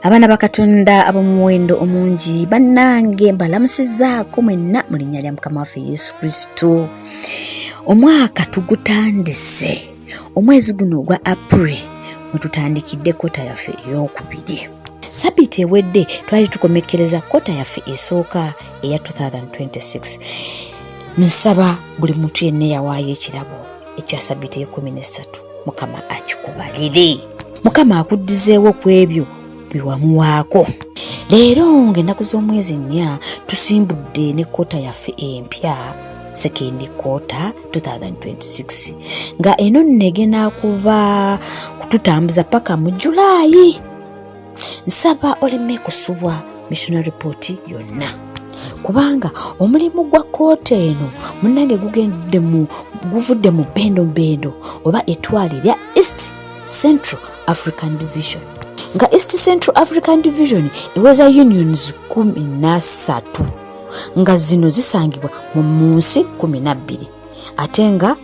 abaana bakatonda ab'omuwendo omungi bannange mbalamusizaako mwenna mu linnya lya mukama waffe yesu kristo omwaka tugutandise omwezi guno ogwa april mwetutandikidde kota yaffe ey'okubiri sabiiti ewedde twali tukomekkereza kota yaffe esooka eya 2026 nsaba buli muntu yenna eyawaayo ekirabo ekya sabiti ekumi nesatu mukama akikubalire mukama akuddizeewo ku ebyo byewamuwaako leero ng'ennaku z'omwezi nnya tusimbudde ne kkoota yaffe empya sekendi kkoota 2026 nga eno nno egenda kuba kututambuza paka mu julaayi nsaba oleme kusubwa missionary report yonna kubanga omulimu gwa kooti eno munange gugendde mu guvudde mu bendo bendo oba etwale lya east central african division nga east central african division eweza unions kumi nasatu nga zino zisangibwa mu munsi kumi nabbiri ate nga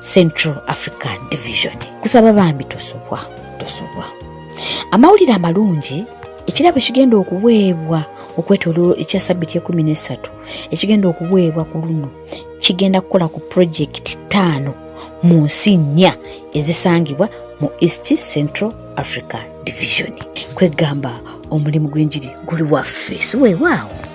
central african division kusaba bambi tosubwa tosubwa amawulire amalungi ekirabo ekigenda okuweebwa okwetololo ekya sabiti ekumi nesatu ekigenda okuweebwa ku luno kigenda kukola ku purojekiti ttaano mu nsi nnya ezisangibwa mu east central africa division kwegamba omulimu gw'enjiri guli waffe siwewaawo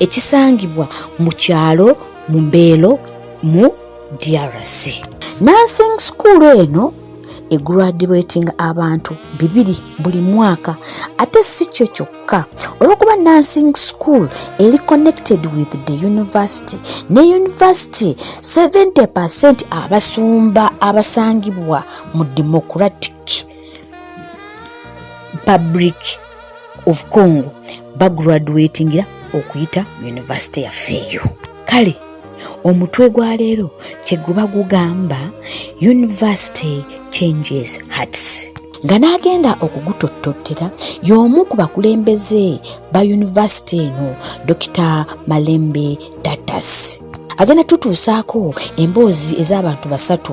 ekisangibwa mu kyalo Mbeelo mu DRC. Nursing school eno egradulatinga abantu bibiri buli mwaka ate si kyo kyokka olwokuba nursing school eri connected with the university ne university 70 percent abasumba abasangibwa mu democratic public of congo bagraduatingira okuyita mu yunivasite yaffe eyo kale omutwe gwa leero kyeguba gugamba university changes hearts nga n'agenda okugutottottera y'omu ku bakulembeze ba yunivasite eno dokita malembe datas agenda tutuusaako emboozi ez'abantu basatu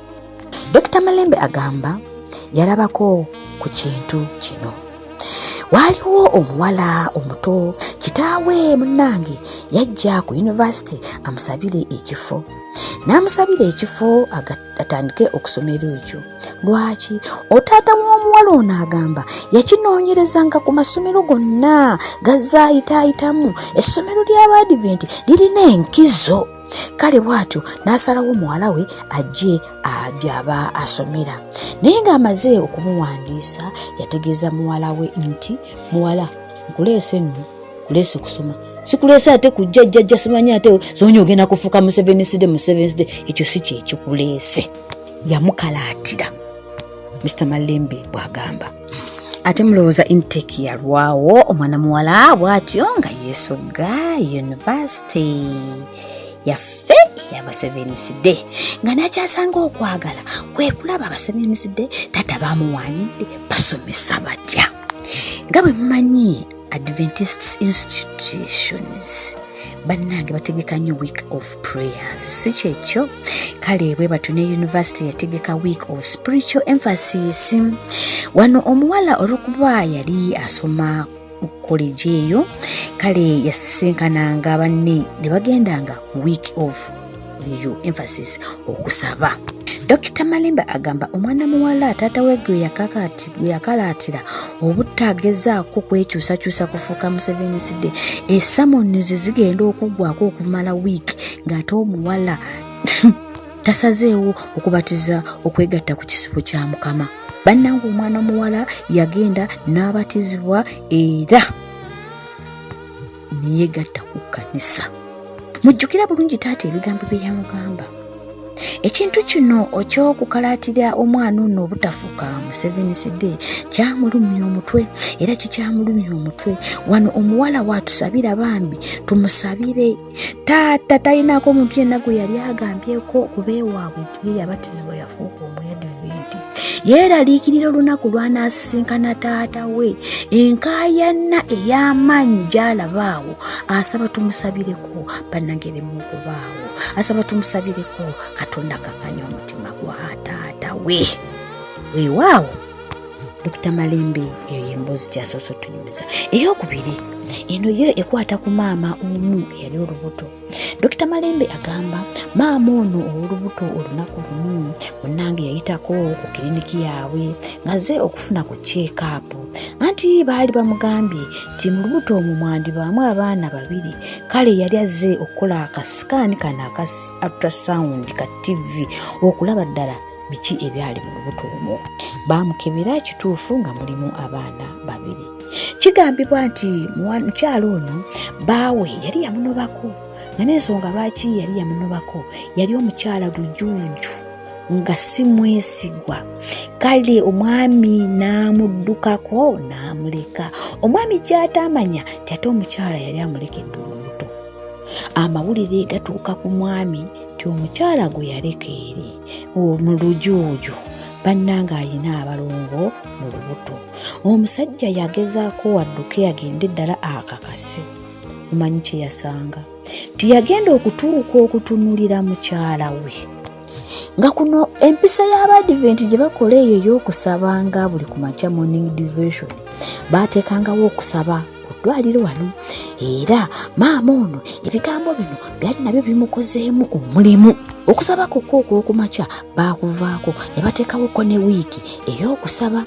Dr. Malembe agamba yalabako ku kintu kino waaliwo omuwala omuto kitaawe munnange yajja ku yunivasite amusabire ekifo n'amusabira ekifo atandike okusomera ekyo lwaki otaata w'omuwala ono agamba yakinoonyerezanga ku masomero gonna gazaayitaayitamu essomero ly'abaadiventi lirina enkizo kale bw'atyo n'asalawo muwala we ajje gy'aba asomera naye ng'amaze okumuwandiisa yategeeza muwala we nti muwala nkuleese nno kuleese kusoma sikuleese ate kujja jjajja simanyi ate zonya ogenda kufuuka museveniside museveniside ekyo si kyekikuleese yamukalaatira mr malembe bwagamba ate mulowooza intake yalwawo omwana muwala bwatyo nga yesogga yunivasite yaffe eyabaseveniside nga nakyasanga okwagala kwekulaba abaseveniside tata bamuwanidde basomesa batya nga bwe mumanyi adventist institutions bannange bategeka nnyo week of prayers si kyekyo kale bwe batyo ne yunivasite yategeka week of spiritual emphasis wano omuwala olwokuba yali asoma koleji eyo kale yasisinkananga banne ne bagendanga week of you emphasis okusaba Dokita Malimba agamba omwana muwala taata we gwe yakalaatira obutagezaako kwekyusakyusa kufuuka Museveni sidde esamoni ze zigenda okuggwako okumala wiiki ng'ate omuwala tasazeewo okubatiza okwegatta ku kisibo kya mukama bannanga omwana muwala yagenda n'abatizibwa era neyegatta ku kkanisa mujjukira bulungi taata ebigambo bye yamugamba ekintu kino okyokukalaatira omwana ono obutafuka museveni sd kyamulumya omutwe era kikyamulumya omutwe wano omuwala watusabira bambi tumusabire taata talinako omuntu yenna gwe yali agambyeko okuba ewaabwe ye yabatizibwa yafuuka omwediviiti yeeraliikirira olunaku lw'anaasisinkana taata we enkaayanna ey'amaanyi gy'alaba awo asaba tumusabireko bannange bemu okubaawo asaba tumusabireko katonda kakanya omutima gwa taata we weewaawo dokita malembe eyo yemboozi gyasoose otunyumiza ey'okubiri eno yo ekwata ku maama omu eyali olubuto Dokita Malembe agamba maama ono ow'olubuto olunaku lumu munnange yayitako ku kiriniki yaabwe ng'azze okufuna ku kyekaapu anti baali bamugambye nti mu lubuto omwo mwandibaamu abaana babiri kale yali azze okukola akasikaani kano aka ultrasound ka ttivi okulaba ddala biki ebyali mu lubuto omwo baamukebera ekituufu nga mulimu abaana babiri kigambibwa nti mukyalo ono baawe yali yamunobako nga n'ensonga lwaki yali yamunobako yali omukyala lujuuju nga si mwesigwa kale omwami n'amuddukako n'amuleka omwami kyataamanya ti ate omukyala yali amulekedde olubuto amawulire gatuuka ku mwami ti omukyala gwe yaleka eri mu lujuuju bannanga alina abalongo mu lubuto omusajja yagezaako wadduke yagende ddala akakase omanyi kye yasanga nti yagenda okutuuka okutunulira mukyala we nga kuno empisa y'abadiventi gye bakola eyo ey'okusaba nga buli ku makya morning devotion baateekangawo okusaba ku ddwaliro wano era maama ono ebigambo bino byali nabyo bimukozeemu omulimu okusaba kokwo okwokumakya baakuvaako ne bateekawoko ne wiiki ey'okusaba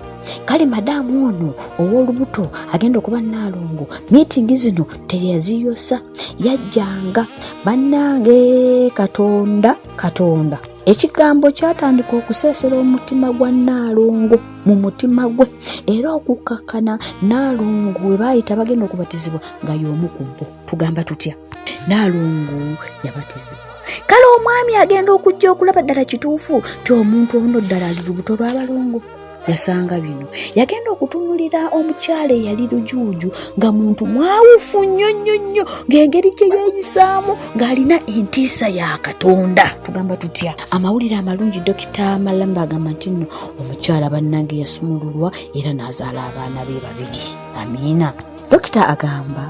kale madaamu ono ow'olubuto agenda okuba naalongo miitingi zino teyaziyosa yajjanga bannange katonda katonda ekigambo kyatandika okuseesera omutima gwa nnaalongo mu mutima gwe era okukkakkana naalongo we baayita bagenda okubatizibwa nga y'omu ku bo tugamba tutya naalongo yabatizibwa kale omwami agenda okujja okulaba ddala kituufu ti omuntu ono ddala ali lubuto lw'abalongo yasanga bino yagenda okutunulira omukyala eyali lujuuju nga muntu mwawufu nnyo nnyo nnyo ng'engeri gye yeeyisaamu ng'alina entiisa ya katonda tugamba tutya amawulire amalungi dokita malamba agamba nti nno omukyala bannange yasumululwa era n'azaala abaana be babiri amiina dokita agamba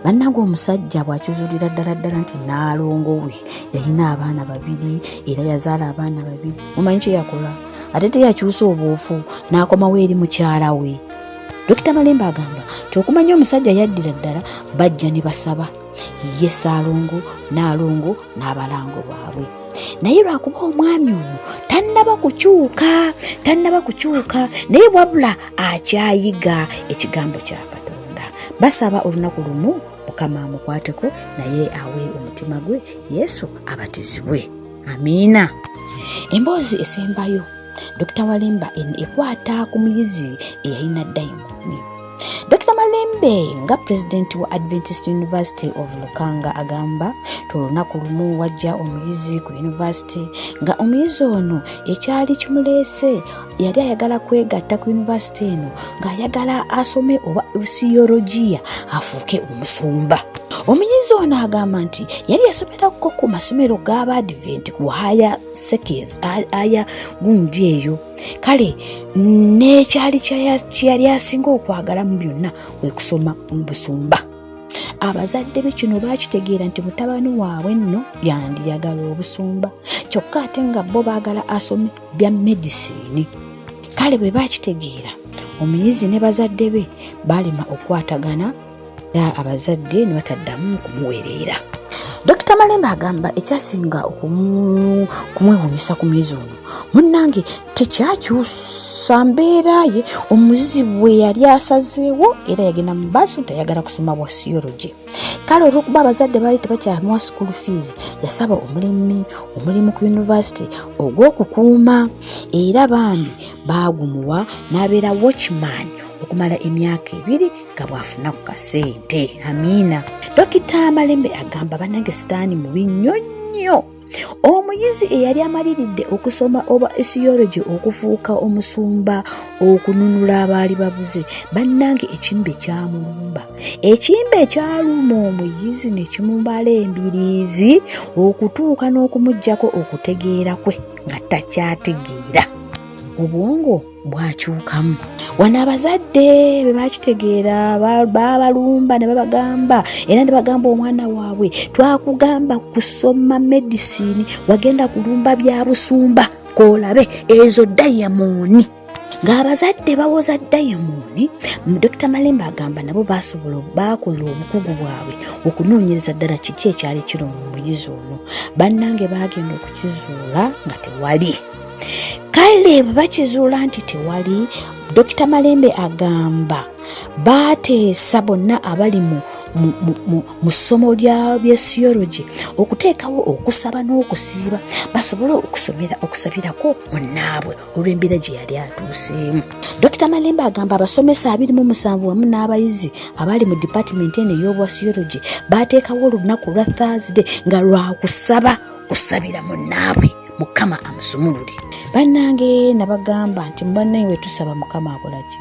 bannange omusajja bw'akizulira ddala ddala nti naalongo we yalina abaana babiri era yazaala abaana babiri omanyi kye yakola ate teyakyusa obuufu n'akomawo eri mukyala we dokita malemba agamba nti okumanya omusajja yaddira ddala bajja ne basaba ye saalongo naalongo n'abalango bwabwe naye lwakuba omwami ono tannaba kukyuka tannaba kukyuka naye wabula akyayiga ekigambo kya katonda basaba olunaku lumu mukama amukwateko naye awe omutima gwe yesu abatizibwe amiina emboozi esembayo dokita walemba ekwata ku muyizi eyalina dayimooni Dr. Malembe nga pulezidenti wa Adventist University of Lukanga agamba nti olunaku lumu wajja omuyizi ku yunivasite nga omuyizi ono ekyali kimuleese yali ayagala kwegatta ku yunivasite eno ng'ayagala asome oba siyologiya afuuke omusumba. Omuyizi ono agamba nti yali yasomerako ku masomero g'aba Advent ku haya sekeri aya gundi eyo kale n'ekyali kyeyali asinga okwagala mu byonna kwe kusoma mu busumba abazadde be kino baakitegeera nti mutabani waabwe nno yandiyagala obusumba kyokka ate nga bo baagala asome bya medisini kale bwe baakitegeera omuyizi ne bazadde be baalema okwatagana abazadde ne bataddamu kumuwereera dokita malembe agamba ekyasinga okumwewunyisa ku myezi ono munnange tekyakyusa mbeera ye omuzibu we yali asazeewo era yagenda mu baaso tayagala kusoma bwa siyologi kale olwokuba abazadde baali tebakyamuwa school fees yasaba omulimi omulimu ku yunivasite ogw'okukuuma era bambi baagumuwa n'abeera watchman okumala emyaka ebiri nga bw'afuna ku kasente amiina dokita malembe agamba banange sitaani mubi nnyo nnyo omuyizi eyali amaliridde okusoma oba esiyologi okufuuka omusumba okununula abaali babuze bannange ekimbe kyamulumba ekimbe ekyaluma omuyizi ne kimubala embiriizi okutuuka n'okumugyako okutegeera kwe nga takyategeera obwongo bwakyukamu wano abazadde bwe bakitegeera babalumba ne babagamba era ne bagamba omwana waabwe twakugamba kusoma medisini wagenda kulumba bya busumba koolabe ezo dayamooni ng'abazadde bawoza dayamooni dokita malembe agamba nabo basobola baakola obukugu bwabwe okunoonyereza ddala kiki ekyali kiruma omuyizi ono bannange baagenda okukizuula nga tewali kale bwe bakizuula nti tewali dokita malembe agamba baateesa bonna abali mu mu ssomo lya byesiyologi okuteekawo okusaba n'okusiiba basobole okusomera okusabirako munnaabwe olw'embeera gye yali atuuseemu dokita malembe agamba abasomesa abiri mu musanvu wamu n'abayizi abali mu dipatimenti eno ey'obwasiyologi baateekawo olunaku lwa thursday nga lwakusaba kusabira munnaabwe mukama amusumulule bannange nabagamba nti mubannaye wetusaba mukama akolaki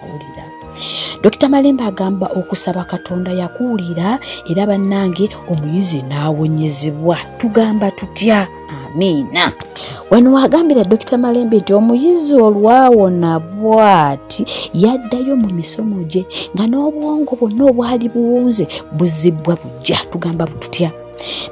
awulira dokita malembe agamba okusaba katonda yakuwulira era bannange omuyizi n'awonyezebwa tugamba tutya amiina wano wagambira dokita malembe nti omuyizi olwawona bwati yaddayo mu misomo gye nga n'obwongo bwonna obwali buwunze buzibbwa bujja tugamba bututya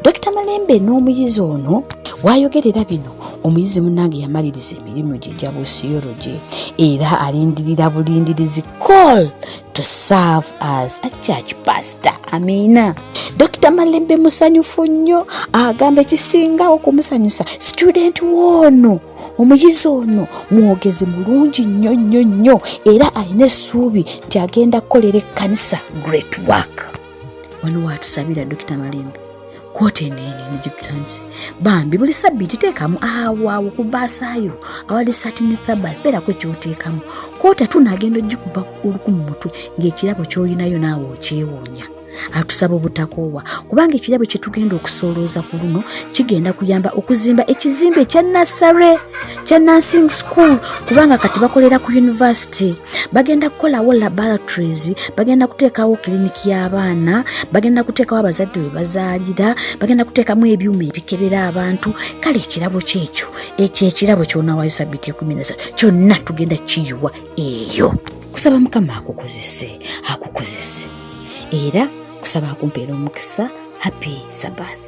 dokita malembe n'omuyizi ono wayogerera bino omuyizi munange yamaliriza emirimu gye gya busiyology era alindirira bulindirizi call to serve as a church pastor amiina dokita malembe musanyufu nnyo agamba ekisinga okumusanyusa student woono omuyizi ono mwogezi mulungi nnyo nnyo nnyo era alina essuubi nti agenda kukolera ekkanisa great work wano watusabira dokita malimba kwota eneene nigitutandise bambi buli sabbiiti teekamu awaawo ku baasaayo awali sati ne thabas beerako ekyoteekamu kwota tunaagenda ogikuba oluku mu mutwe ng'ekirabo ky'olinayo naawe okyewuunya atusaba obutakoowa kubanga ekirabo kye tugenda okusoolooza ku luno kigenda kuyamba okuzimba ekizimbe ekya nassare kya nursing school kubanga kati bakolera ku yunivasite bagenda kukolawo laboratories bagenda kuteekawo kiriniki y'abaana bagenda kuteekawo abazadde we bazaalira bagenda kuteekamu ebyuma ebikebera abantu kale ekirabo kyekyo ekyo ekirabo kyonawayo sabiti ekumi nasa kyonna tugenda kiyiwa eyo kusaba mukama akukozese akukozese era kusaba akumpeera omukisa happy sabath